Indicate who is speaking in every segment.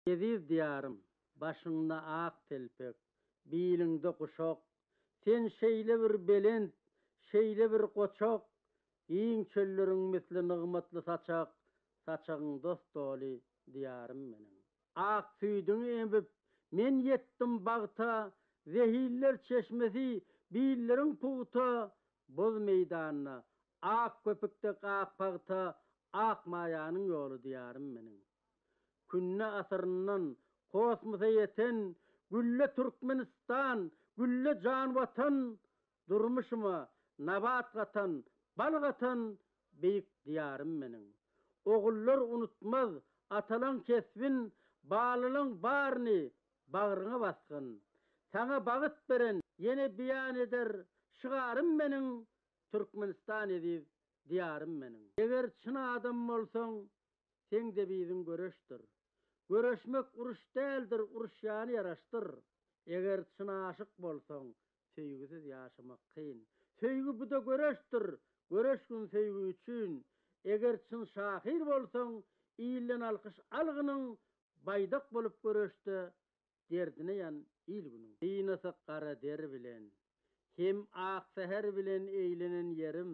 Speaker 1: Eziz Diýarym, başyňda ak telpek, biliňde guşak, Sen şeýle bir belent, şeýle bir goçak, Giň çölleriň misli nygmatly saçak, Saçagyň dost doly Diýarym meniň. Ak süýdüňi emip, men ýetdim bagta, Zehinler çeşmesi, billeriň pugta, Boz meýdanda, ak köpük dek ak pagta, Ak maýanyň ýoly Diýarym meniň. Künde asyryndan kosmosa ýeten Gülle Türkmenistan, Gülle jan Watan, Durmuşyma nabat gatan, bal gatan beýik Diýarym meniň. Ogullar unutmaz atalaň kesbin, Balylaň baryny bagryňa basgyn. Saňa bagyt beren ýene beýan eder şygarym meniň, Türkmenistan eziz Diýarym meniň. Eger çyn adam bolsaň, seň-de biziň göreşdir. Göreşmek uruş däldir, uruşýany ýaraşdyr. Eger çyn aşyk bolsaň, söýgüsiz ýaşamak kyn. Söýgi bu-da göreşdir, göreşgin söýgi üçin. Eger çyn şahyr bolsaň, ilden alkyş algynyň, baýdak bolup göreşde derdine ýan il-günüň. Gynasak gara der bilen. Hem ak säher bilen eýlenen ýerim.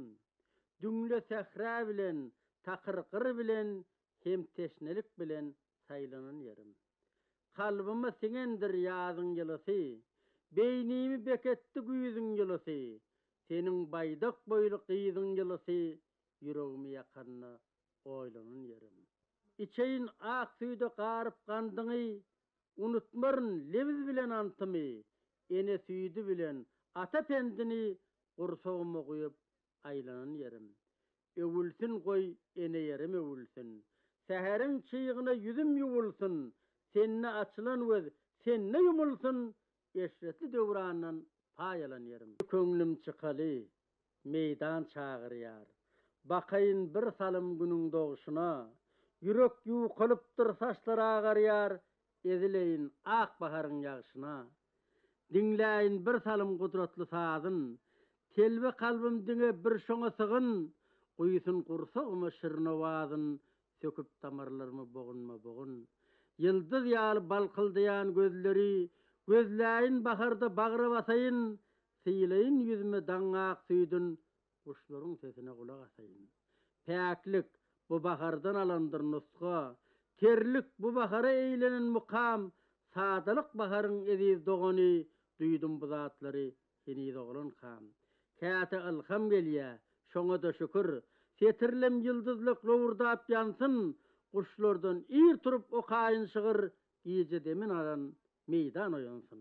Speaker 1: Düňle sähra bilen, takyr gyr bilen hem teşnelik bilen saýlanan ýerim. Kalbyma siňendir ýazyň ýylysy, beýnimi beketdi güýzüň ýylysy, seniň baýdak boýly gyzyň ýylysy ýüregimi ýakanda Oýlanan ýerim. Içeýin ak süýde garyp gandyňy, Unutmaryn lewiz bilen antymy, Ene süýdi bilen ata pendini Gursaguma guýup aýlanan ýerim. Öwülsin goý ene ýerim öwülsin, Säheriň çygyna ýüzüm ýuwulsyn, Sende açylan göz, sende ýumulsyn, Eşretli döwrandan paýalan ýerim. Köňlüm çykaly, meýdan çagyrýar. Bakaýyn bir salym günüň dogşuna. Ýürek ýuwkalypdyr, saçlar agarýar, Ezileýin ak baharyň ýagşyna. Diňläýin bir salym gudratly sazyn, Telbe kalbym diňe bir şoňa sygyn, Guýsun gursagyma şirin owazyn, Söküp damarlarymy bogunma-bogun. Ýyldyz ýaly balkyldaýan gözleri Gözläýin baharda bagra basaýyn, Sylaýyn ýüzüme daň ak süýdün, Guşlaryň sesine gulak asaýyn. Päklik, bu bahardan alandyr nusga, Terlik, bu bahara eýlenen mukam, Sadalyk baharyň eziz dogany, Duýdum bu zatlary Heniz oglankam. Käte ylham gelýä, şoňa-da şükür. Setirlem ýyldyzlak lowurdap ýansyn, Guşlardan ir turup okaýyn şygyr, Gije demin alan meýdan oýansyn.